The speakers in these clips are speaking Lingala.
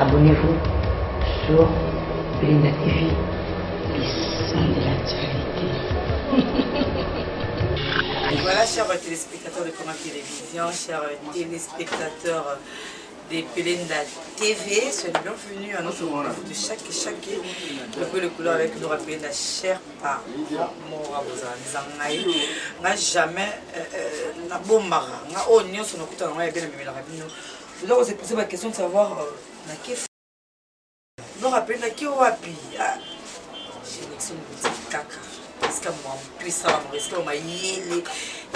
Abonnez-vous sur Belinda TV, le sang de la charité. voilà, chers téléspectateurs de Comment Télévision, chers téléspectateurs des Pelenda TV. Soyez bienvenue à notre rendez-vous de chaque chaque le peu le couleur avec nous rappeler la chère par mora bozanzangai n'a jamais euh, euh, na bomara n'a o oh, nyoso na kuta na ngai bien na bimela bino Oza ko se poser ba question de savoir euh, na ke non rappelle na ke wapi ah je n'excuse pas kaka esika mwampesa bango esika mayele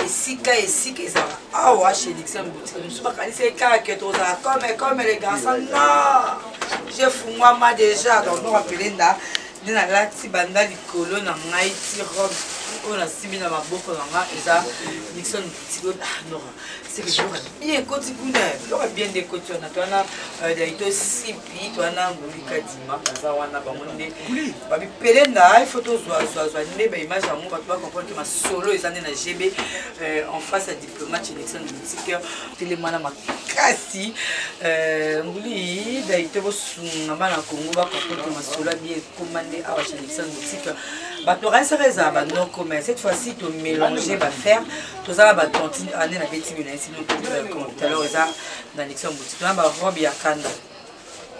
esika esika ezala awa chez dixon boutique mosusu bakanisi ekaka ke tozala comme comme le garçon non je fungwama déjà donc non rappelle nda nde nalati banda likolo na ngai ti robe oyo nasimbi na maboko na ngai eza dixon boutique seke biloko bien ekoti kuna biloko bien nde ekoti wana to wana euh, daito sipi to wana nguli kadima baza wana bango nde bamipele na ifo tozwazwazwa nde baimage yango bato bakomprendre ke masolo eza nde na gb euh, en face ya diplomate election politiker telemana makasi euh, nguli daito bosunga bana kongo bakomprendre ke masolo ya bien ekoma nde awa chez election politiker bato okanisaka ezala banoko mais cette fois ci tomélange bafaire toza na batantine ane na beti mina esi talor eza na nixon boutique na barobe ya kanda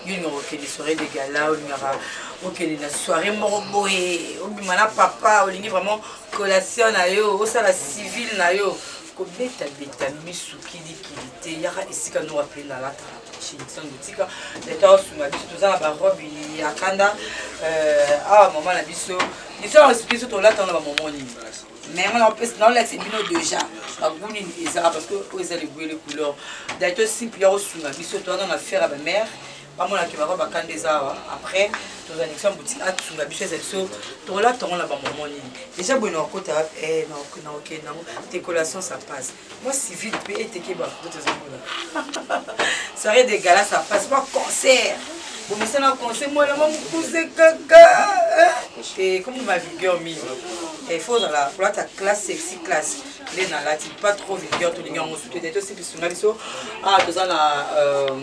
yo olingaka okende soirée de gala olingaka okende na soirée moko boye obima na papa olingi vraiment collation na yo osala civile na yo kobetabeta misu kilikili te yaka esika noko ape nalataka chez nixon boutique leta osunga biso toza na barobe ya kanda euh, awa mama na biso biso biso tolataka na bamomo nini mais yango napesi naolakisa bino deja bagu nini ezaka parce que oyo eza libwele couleur dai tosimple ya kosunga biso towana na fere ya bamare bamonake bako bakanda eza awa après tozalisa boutique asunga biso eza biso tokolata yango na bamama nini deja boye nakokota eh, nakokende yango decoration ça passe moi civil mpe eteke bafoto tozomona soirée de gala ça passe moi concert bomisana conseil mwana mwa mokuse kaka te komi ma vigueur mingi il faut ozala kolata classe sexy classe nde nalati pas trop vigueur tolingi yango sutu te tosipisunga biso awa ah, toza na euh,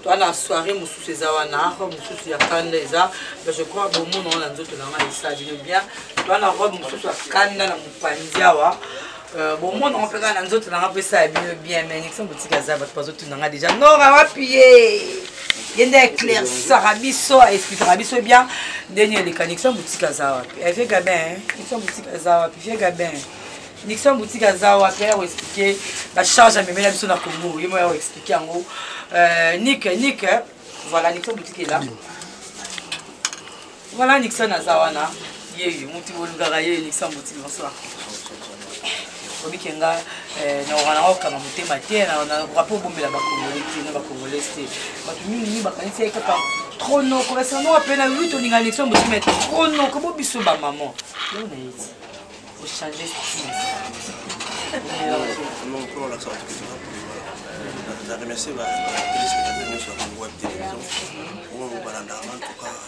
toza na soirée mosusu eza wana robe mosusu ya kanda eza je crois bomona wana nzoto na ngai esa bino bien toza na robe mosusu ya kanda na mopanzi awa Euh, bomona ngo mpe kaka na nzoto na nga mpo esala bino bien mais nixon botika aza bato bazotuna nga déjà nora wapi ye ye nde éclaircisaka biso aexplikaka biso bien ndeni eleka nixon botika aza wapi eh, vie gabin nixon botika aza wapi vie gabin nixon botika aza wapi ya koexplike bacharge amemela biso na congo ye mo ya koexplike yango euh, nik nik voilà nixon botikela Voilà Nixa naza wana yeyo mutu bolingaka yeyo Nixa mbuti bonsoir obi ke nga eh, nakoka nanga kokanga motema te nakoka mpe obombela bakongole te na bakongolais te bato mingi mingi bakanisi ye kaka trop noko basanoka mpe na lwi tolinga Nixa mbuti me trop noko bo biso bamama yo nayeti ochange style na remercie ba téléspectateurs nyonso ya Congo Web Télévision oyo balandaka en tout cas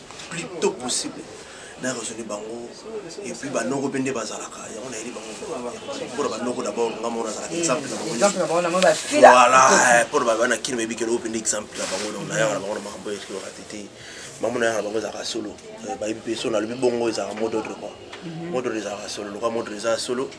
plus tôt possible na raisonne bango et puis ba noko pende bazalaka yango na yeli bango pour ba noko d'abord nga mona zalaka exemple na bango exemple na bango na bango ba fila voilà eh, pour ba bana kin mebi kelo pende exemple na bango donc na yaka na bango na makambo ekri wa tete mamu na yaka na bango ezalaka solo eh, ba yebi peso na lobi bongo ezalaka mot d'ordre quoi mhm. mot d'ordre ezalaka solo loka mot d'ordre ezalaka solo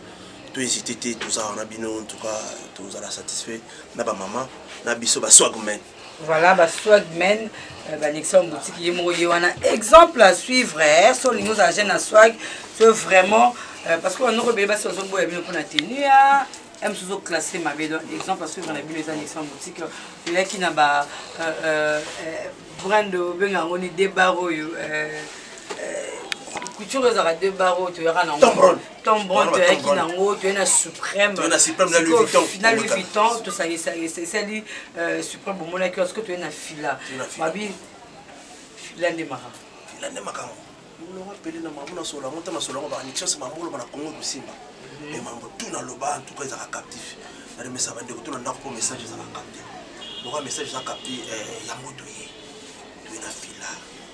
to hésiter te tozalaka na bino en tout cas tozala satisfait na ba maman na biso ba swagmen Voilà ba swagmen euh, ba Nixon boutique ye moko ye wana exemple à suivre eh, so lingo za jeune à swag so vraiment euh, parce que wanoko bele basi bazo boya bino pona tenue ya ème sozo classé mabe donc exemple à suivre na bino eza Nixon boutique elaki na ba euh, euh, brand obenga yango ni debar oyo euh, euh, couture ezalaka debar oyo toyaka na yango ton bon toyaki nango toye na suprême na louis vuitton tosalisali euh, suprême bomonaki wa soki toye na fila babi fila nde makambo fila nde makambo molongo apele na mambo na solo yango ntango na solo yango baanixance mambo oloba na kongo ekosimba mhm. me mambo tu naloba antuka ezalaka captif naremesa bandeko to na ndako mpo message ezalaka capte lokola message eza capte eh, yango toye toye na fila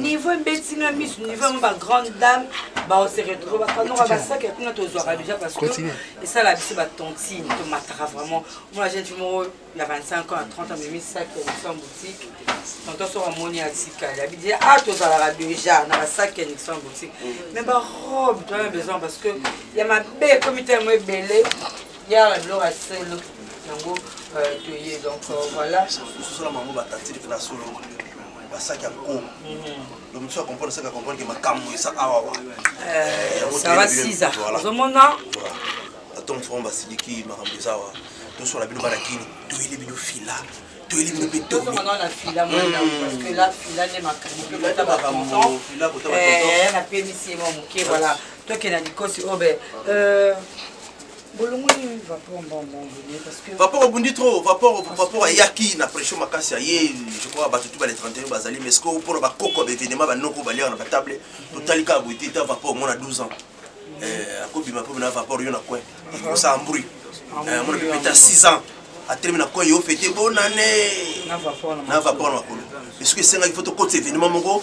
niveau ebeti nga misu niveau yango ba grande dame baose retrouve bakanoka basaki ya kuna tozwaka déjà parce que esala biso batontine tomataka vraiment mona jeune fille moko ya 25 ans ya 30 amemi saki ya nixon boutique tonton soko amoni atikali abi deja a tozalaka déjà na basaki ya nixon boutique mais barobe toana besoin parce que ya mabe ekomi tellement ebele yala biloko ya solo yango toye donc euh, voilà basaki ya nko donc mosusu acomprendre saki acomprendre ke makambo eza awawa sara siza ozomona atom fo basiliki makambo eza awa tosola bino bana kini toyeli bino fila toyeli bino mpe tolnapemisi mwa moke voilà tokenda likosi obe vapor obundi trop vapor vapor ayaki na pression makasi aye je crois bato tu bale 31 bazali mais sikoyo mpona bakoko ya baevenema banoko baliaka na batable totali kaka boye te ta vapor omona 12 ans eh, akobima mpe na vapor yo na coin kosala mbri eh, omona mpe peta 6 ans atelemi na coin yo fete bonane na vapor na makolo mais soki esengaki fo tokotisa evenema moko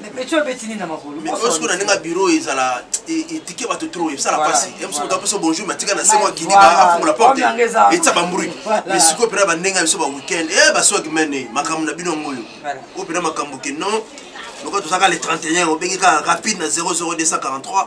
Mais petit obeti nini na makolo? Mais oyo sikoyo na ndenge ya bureau oyo ezala etike bato trop esala mpasi ye mosuku to apesa bonjour mais atika na se mwa kidi afungola porte etisa bambruit mais sikoyo mpena bandenge ya biso ba weekend e baswaki mene makambo na bino yango oyo oyo mpena makambo ke non lokola tozalaka le 31 obengi kaka rapide na 00243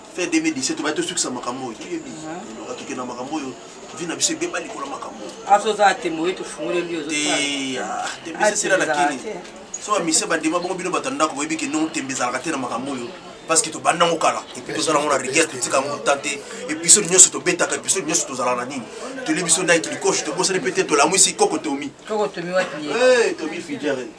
fin 2017 obaya tosukisa makambo oyo toyebi loka tokenda makambo oyo vi na biso ebeba likolo makambo azoza tembo ye tofungoleli ozotembesesela na kini so bamise bandima bongo bino bato ya ndako boyebi ke non tembe ezalaka te na makambo oyo parce que tobanda yango kala epuis tozala yango na rigueur totika yango ta te episode nyonso tobetaka episode nyonso tozala na nini toli biso nai kilikoshi tobosani mpe te tolamwisi koko tomi tomi fijere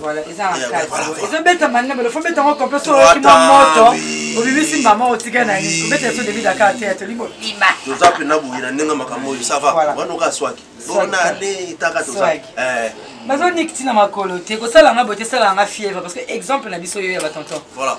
Voilà, eza na eh, kati. Ezo beta manne belo fo beta ngoko pe so ki mwa moto. Obimisi mama otika na ni. Ko beta so debi Dakar te to limbo. Bima. Toza pe na buyi na ndenge makambo yo ça va. Wana ka swaki. Bona ale taka toza. Eh. Bazo nikiti na makolo te ko sala nga bote sala nga fièvre parce que exemple na biso yo ya ba tonton. Voilà.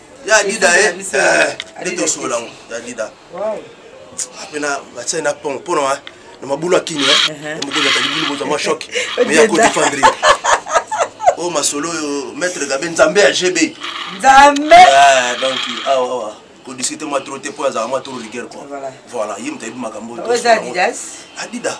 ya dida ye nde tosola yango ya dida ape na batie na pont mpo na na mabulu ya kini mokonzi atali bulu bozwa mwa shok me ya kodefendre oyo masolo oyo maître gabe nzambe ya gb nzambe donc awa awa kodiscute mwa tro te mpo azala mwa tro rigueur quoi voilà ye moto ayebi makambo adida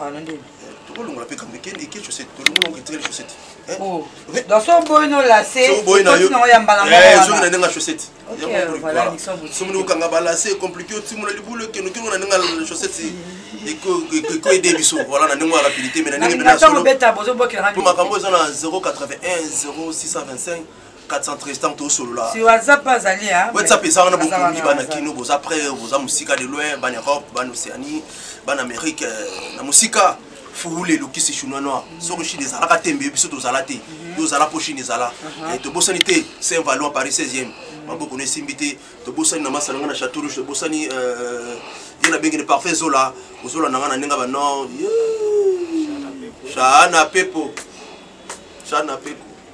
Ah, na ndenge. Eh, tokolongola pe kambe kende eke chaussette. Tolongola onge tele chaussette. Eh? Oh. Donc so boy no la se. So boy na yo. Na ya mbala mbala. Eh, so na ndenge chaussette. Ok, voilà, nixon boutier. So munu kanga bala se compliqué o timula libulu ke no kingo na ndenge la chaussette. Eko eko aider biso. Voilà na ndenge rapidité mais na ndenge na solo. Na beta bozo bokela na. Makambo eza na 081 0625 413 tosolola si whatsapp azali whatsapp eza wana bokomi bana kino boza près boza mosika de loin bana europe bana océanie bana amérique euh, na mosika furule elukisi chinois noir mhm. soki chine ezalaka te mbe biso tozala te mhm. yo ozala mpo chine ezala mhm. eh, tobosani te saint valois paris 16e maboko na esimbi te tobosani na masala nga na chateau rouge tobosani euh, ye nabengi ne parfait zola ozola na nga na ndenge banor shana pepo shana pepo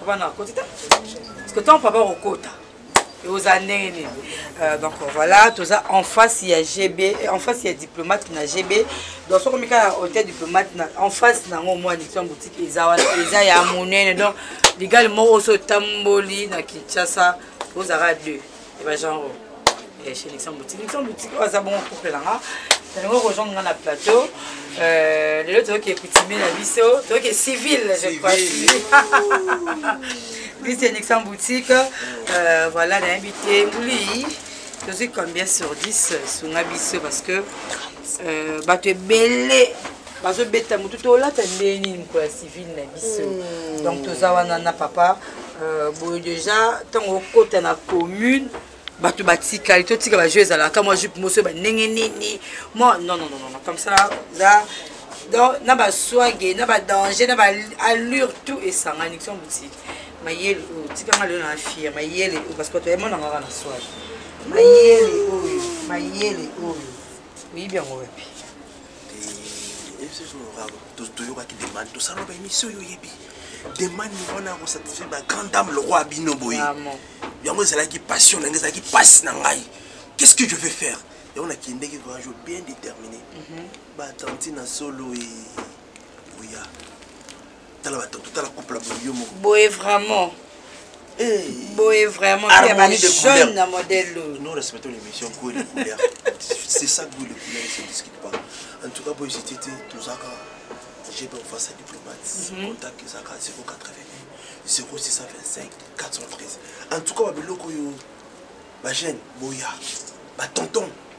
papa na akoti te parce que ntango papa akokota oza ndenge nini euh, donc voilà toza en face ya gb euh, en face ya diplomate na gb donc soki omika na hotel diplomate en face na yango mwa nixon boutique eza wana eza ya monene donc ligali moko oso otamboli na kinshasa ozalaka deux eba genre eh, chez Nixon Boutique. Nixon Boutique, oyo aza bongo couple na nga nalingi okozonga nga na plateau euh, lelo toyoki ekutimie na biso toyoki civil je crois bisi ya Nixon Boutique euh, voilà nayebi te nguli tozwi combien sur 10 sunga biso parce que euh, bato ebele bazobeta motu tolata ndenge nini mokolo ya civile na biso hmm. donc toza wana na papa euh, boye déjà ntango okota na commune bato batikali totika bajeu ezalaka mwa jupe moso bandenge nini mwa non non non comme ça za donc na baswage na badanger na baalure tout esangani kiso botiki mayele oyo tikanga lelo na fia mayele oyo parce que bato yamonanga kaka na swage mayele oyo mayele oyo oyebi yango wapi toyokaki demande tosala ba émission oyo oyebi demande wana ya kosatisfaire ba grand dame lokwa bino boye ah, yango ezalaki passion na ngai ezalaki mpasi na ngai qu'est ce que je vais faire yango nakendeki grand jour bien déterminé mhm. batanti na solo e oya tala ba tonto tala couple boye yo moko boye vraiment eh boye vraiment pia ba jeune na modèle oyo nous respectons l'émission goût et couleur c'est ça goût et couleur ne se discute pas en tout cas boye j'étais tozaka j'ai bien face à diplomate mhm. contact ezaka 080 0625 413 en tout cas ba biloko oyo ba jeune boya ba tonton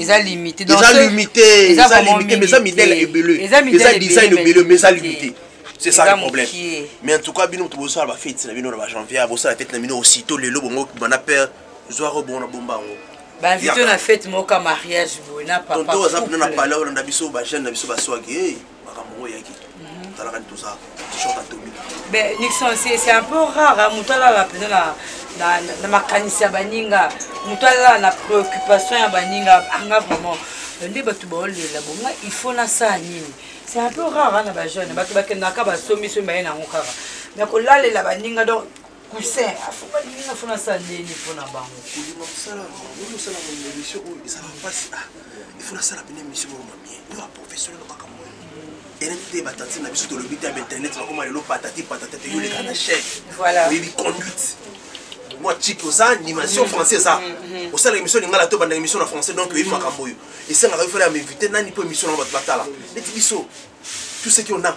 eza limite eza limite eza limite mais eza midele ebele eza design ebele mais eza limite c'est ça le problème mais en tout cas bino moto bosala bafeti na bino na bajanvier bosala feti na bino aussitôt lelo bongo bana père zwa ko bongo na bomba yango banvito na fete moko ya mariage boye na papa tonto aza kuna na palais olanda biso bajeune na biso baswaki makambo ngo eyaki talaka nde toza t-shirt atomi mais nixon c'est un peu rare moto alala mpenza na na makanisi ya baninga moto alala na préoccupation ya baninga anga ah, vraiment euh, nde bato baolela bonga il faut nasala nini c'est un peu rare na bajeune bato bakendaka basombisomi baye nango kaka mais kolalela baninga donc cousin afuma lingi na fona sa nini mpo na bango kolima mosala oyo osala na émission oyo ezala mpasi a ifo nasala mpena émission moko mamie yo aprofessionnel na makambo oyo eleki te batati na biso tolobi te ya bainternet bakoma lelo patati patata te yoleka na chaine oyebi conduite mwa chiki oza animation mm-hmm. français eza mm-hmm. osala émission lingala to banda émission na français donc oyebi makambo oyo esengaka yo fela ya mainvité nani mpo émission na bato batala neti biso tout ce qui on a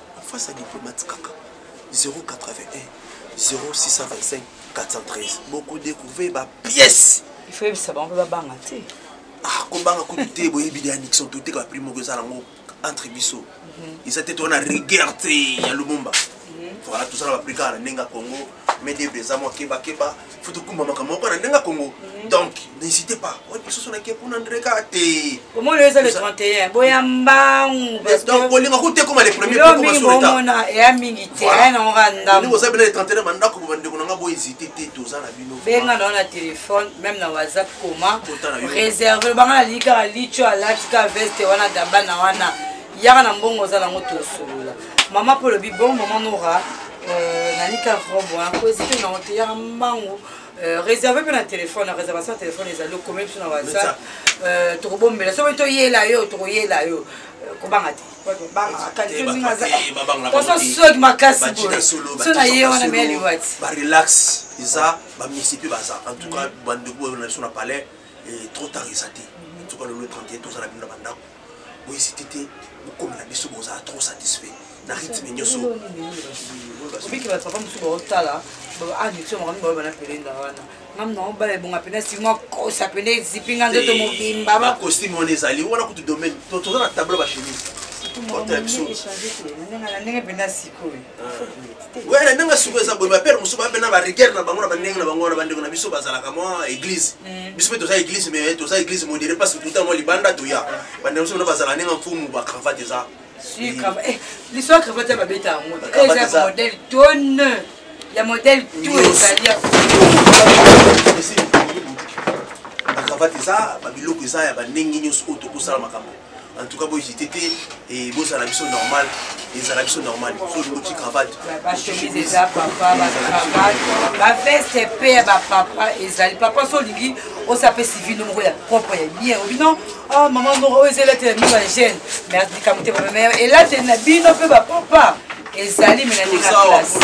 En face ya diplomate kaka 0814254413 boko decouvrir ba pièces il faut yebisa bango ba banga te ah ko banga ko te boye bidi Nixon to te ka prix moko ezala ngo entre biso mhm. eza te to na rigueur te ya Lumumba mhm. voilà tout ça na Afrika na nenga Congo mais des beza mo keba keba faut tokumba makambo moko na ndenge ya kongo donc n'hésitez pas oyo lisusu nake kuna ndreka te omoni oyo eza le 31 boya mbangu donc bolinga kuta ekoma le premier pokomasoleta eya mingi te aya nango ka ndambo oza bena le 31 bandako bo bandeko nanga bo hésite te toza na bino benga nango na telefone même na whatsapp koma réserve lobanga nalingi kaka licho alati ka veste wana gabana wana yaka na mbongo oza nango tosolola mama mpo olobi bon mama nora euh, nanika robe wana mpo eziki nango te yaka mbango euh, réserve mpe na téléphone na réservation ya téléphone ezali okomi biso na whatsapp euh, tokobombela soki toyela yo tokoyela yo kobanga te soki makasi boyeso na ye wana mea liwati barelax eza bamisi mpe baza en tout cas mm. bandeko na biso na palais eh, trop tard eza te en tout cas lelo 31 tozala bino na bandako Bo hesiter te bokomela biso bozala trop satisfait na rythme nyoso. Obiki ba papa musu ba otala ba addiction makambo ba bana pelenda wana. Ngam na obala ebonga pena sima kosa pena ezipi nga nzoto mobimba. Ba costume wana ezali wana kutu domaine to toza na tableau ba chemise. Oto ya biso. Ndenge mpenza sikoyo. Oui, na ndenge suku eza boye bapere mosusu bape na barigueur na bango na bandenge na bango wana bandeko na biso bazalaka mwa église mm. biso mpe toza église mais toza église modere parce que tuta mwa libanda toya bandeko mosusu na bazalaka ndenge mfumu bacravate eza eh, liso ya cravate ya babeta yango eza modèle tone ya modèle to ezali ya bacravate eza babiloko eza ya bandenge nyonso oyo tokosala makambo en tout cas bo hésiter te et bozala biso normal ezala biso normal so olingi oti cravate bachemise eza papa bacravate baveste mpe ya bapapa ezali papa so olingi osape civile moko ya propre ya bien obino ah, mama moko oyo eza elateli ya mino ya gene mais likambo te papa mais elateli na bino mpe bapapa ezali me na ndenge classe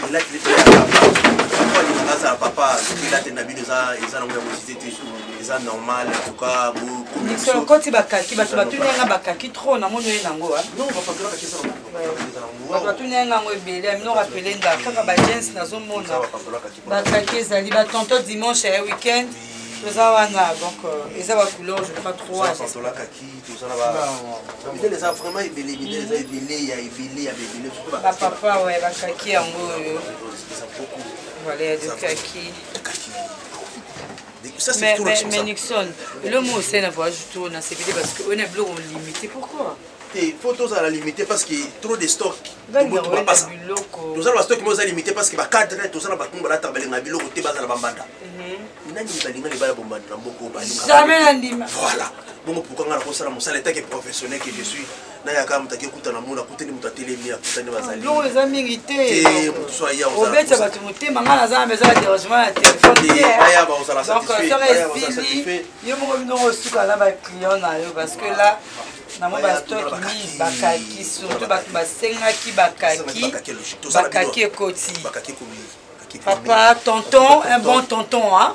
elateli mpe ya papa azala papa elateli na bino eza nango ya mosite te eza normal en tout cas bokomikolo okoti bakaki bato batuni yanga bakaki trop namoni oye nango bato batuni yanga yango ebele amino rapele nda kaka bagens nazomona bakaki ezali batonto dimanche ya week-end toza wana donc euh, eza bacouleur je crois troisolakaki tozalabamidele eza vraiment ebele midele eza ebele ya ebele ya bebele bapapa oyo bakaki yango oyo voilà ya dokaki Ça, c'est mais, tout mais, mais Nixon, le mot c'est la voix, je tourne, c'est parce qu'on est bloqué, on limité. Pourquoi te mpo tozala limité parce que trop de stock tobutu bapasa tozala bastock mo eza limité parce que bacadre tozala bato balataka balingaka biloko te bazala bambanda mhm. nani balinga libala bombanda na mboko balinga voilà bongo pourkua ngai nakosala mosala etake professionnel que je suis naye aka moto ake kuta na mona akuteli moto atelemi akutani bazalilongo eza mingi te moto so aya obeta bato motema ngai naza na maison ya dérangement ya telefoneaya bakozala satisfaitesili yo moko binoko osuka na baclient na yo parce que là nango bastoki mingi bakaki surtout bato basengaki bakaki bakaki ekoti papa tonton un bon tonton hein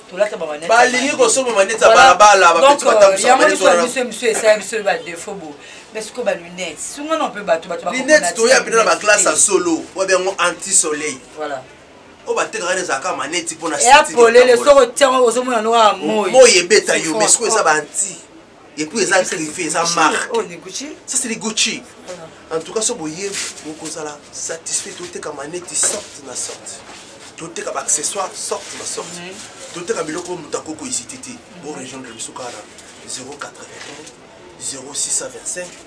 balingi kosomba maneti ya balabala bapeti batambusamaneti esala biso ba défaut bo mais sikoyo ba lunette sungana mpe bato balinette toya mpena na baklasse ya solo oyo biango anti soleil oyo batekaka na ezalaka maneti mpo na polele soko tiango ozomona noka moi ebeta yo mais sikoyo eza baanti et puis eza griffe eza marque oh, ça c'est les gucci en tout cas so boye bokozala satisfait toteka maneti sorte na sorte toteka baaccessoire sorte na sorte toteka biloko oyo moto akoki kohésite te borejoindre biso kaka na 081 0625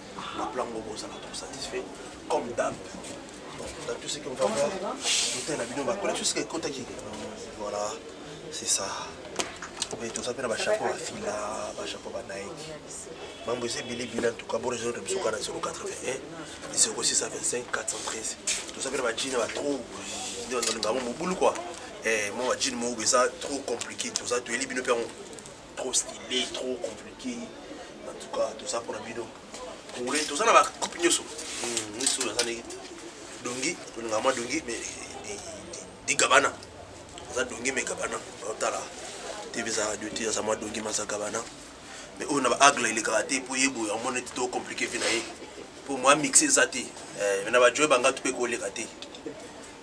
na plan ngo bozala trop satisfait comme dab dans tout ce qu'on va voir bouteille na bino bakola tout ce qui ekotaki voilà c'est ça mais toza mpe na bachapeau bafila bachapeau banaiki mambo eza ebele ebele antuka borezo na biso kana 081 0625 413 toza mpe na bajina batro nde bazolinga yango mobulu kua eh, mwa bajini moko eza trop compliqué toza toyeli bino mpe yango Trop style, trop complique. En tout cas, tout ça pour la bino. Congolais, tout ça na ba coupe nyoso. Hmm, nyoso na zane. Dongi, on a moi dongi mais di gabana. Za dongi mais gabana. Otala. TV za radio ti za moi dongi ma za gabana. Mais on a ba agle le karaté pour yebo ya mona ti trop compliqué vinaye. Pour moi mixer ça ti. Eh, na ba jouer banga tu pe ko le karaté.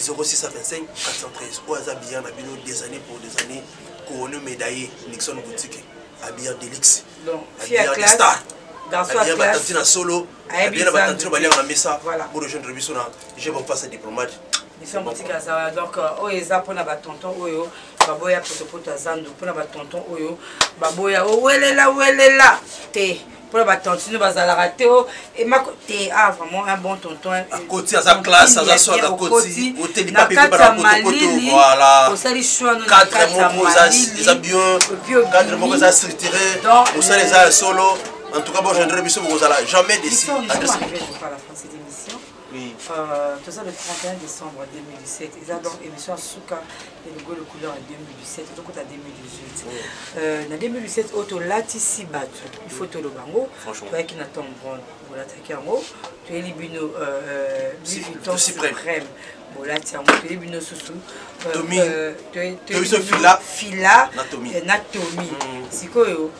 0625 413 oyo aza billard na bino des années pour des années couronne médaillé nixon boutique abillard delix abillard de star abillard batanti na solo abillard na batanti no baliaka na mesa bo rejoindre biso na je bon face diplomate mission boutique aza donc euh, oyo eza mpona batonton oyo baboya potopoto aza ndo mpona batonton oyo baboya owelela oh, welela te mpona batantine bazalaka te o emako te a ah, vraiment un bon tonton akoti aza classe aza soki akoti oteli pape mpe banakotokoto voilà osali soino cadre moko eza bien cadre moko eza structuré osali eza ya solo en tout cas bogendre biso bokozala jamais déci Oui. Euh, toza le 31 décembre 2017 eza donc émission ya suka ya ligolo couleur ya 2017 tokota 2018 oh. euh, na 2017 oyo tolatisi bato il faut toloba yango toyaki na tom brond bolataki yango toyeli bino euh, biviton suprême bolati yango toyebi bino susu fila na tomi sikoyo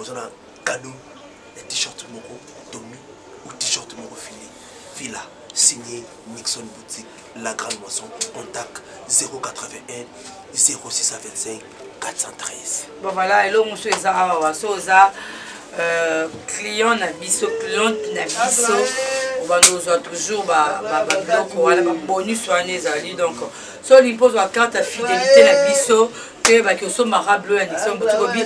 oza na cadeau ya t-shirt moko tomi ou t-shirt moko fili fila signé Nixon boutique la grande moisson contact 081 0625 413 bon voilà eloko mosusu eza awa so oza euh, client na biso cliente na biso obanda ozwa toujours babiloko wana babonus wana ezali donc soli mpo ozwa carte ya fidelité na biso toyebaki osombaka blo ya nixon boutique obi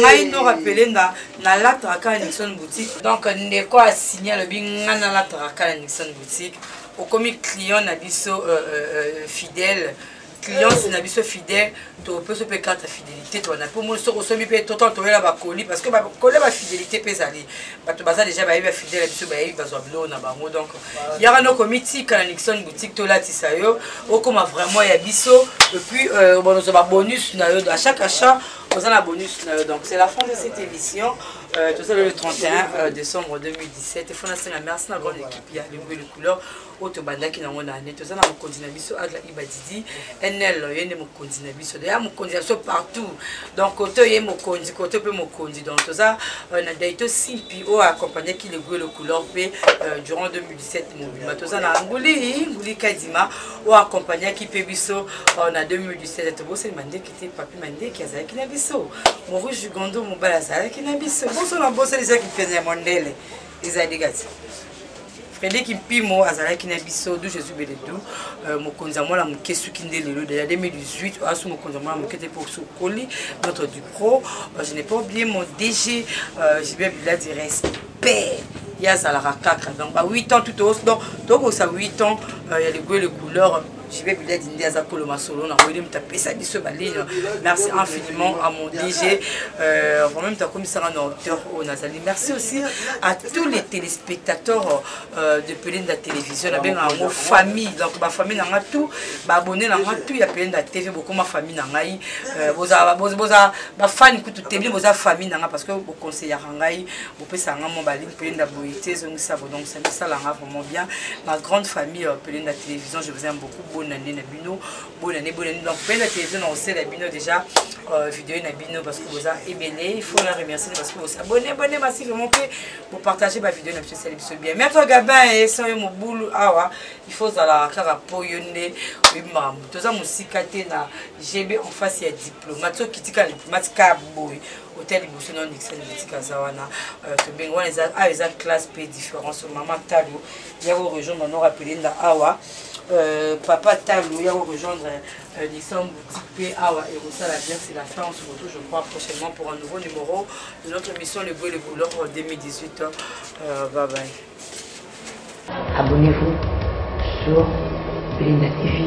ngai nora pelenga nalataka kaka nixon boutique donc ndeko asigne alobi ngai nalataka kaka na nixon boutique okomi client na biso euh, euh, euh, fidèle clience na biso fidèle topesa mpe carte ya fidélité towana mpo moni soki osomi mpe totan toyela bakoli parce que bakoli ya bafidélité mpe ezali bato baza déjà bayebi bafidèle ya biso bayebi bazwa biloko na bango donc yaka noko mitika na nixon boutique tolatisa yo okoma vraiment ya biso epuis euh, obana ozwa babonus na yo à chaque achat oza na bonus na yo donc c'est la fin de cette émission euh, toza le 31 euh, décembre 2017 efona senga merci na grande équipe ya lingo le couleur oyo tobandaki nango na ane toza na mokonzi na biso agla ibadidi nl ye nde mokonzi na biso deya mokonzi na biso partout donc koto ye mokonzi koto mpe mokonzi donc toza euh, na daito simpi oyo accompagnaki le guelo couleur mpe euh, durant 2017 mobima toza na nguli nguli kadima oyo accompagnaki mpe biso euh, na 2017 tobosani mandeki te papi mandeki azalaki na biso morouge gondo mobali azalaki na biso boso na bosani ezalaki mpenza ya mondele eza degati Frédéric Mpimo azalaki na biso du Jésus Beledu euh, mokonzi ya mwana moke suki nde lelo de la 2018 asu mokonzi ya mwana moke te mpo sokoli notre du pro euh, je n'ai pas oublié mon DG euh, Gilbert Bila du respect ye azalaka kaka donc ba 8 ans tout donc tokokisa 8 ans ya legoe le couleur JB Biladi nde aza kolo masolo na koyeli moto apesa biso baline merci infiniment à mon DG euh, vraiment moto akomisaka na hauteur oyo oh, nazali merci aussi à tous les téléspectateurs euh, de Pelenda Télévision nabengaka yango famille donc bafamille na nga tout baabonne na nga tout ya Pelenda TV bokoma famille na ngai euh, boza bafani kutu te bino boza famille na nga parce que boconseillaka ngai bopesaka nga mwa baline Pelenda boye te ezongisa bo donc samisala nga vraiment bien ma grande famille euh, pele na télévision je vous aime beaucoup bonne année na bino bonne année bonne année donc pele na télévision na osela bino déjà euh, vidéo na bino parce que boza ebele il faut la remercier parce que bosa bonne bonne merci vraiment pe pour partager ba vidéo na biso sali biso bien mais toi Gabin et sans yo mobulu awa il faut zala kaka po yo nde oyima toza musika te na GB en face ya diplomate so kitika matika boy ota liboso na ndikisa libotika aza wana euh, tobengi wana eza awa eza classe mpe différence mama talo ya ko rejoindre noko apelenda awa euh, papa talo ya ko rejoindre euh, lisam boutique mpe awa ekosala bien c'est la fin on se retrouve je crois prochainement pour un nouveau numéro de notre émission le bruit le boulot 2018 euh, bye bye abonnez-vous sur Belinda TV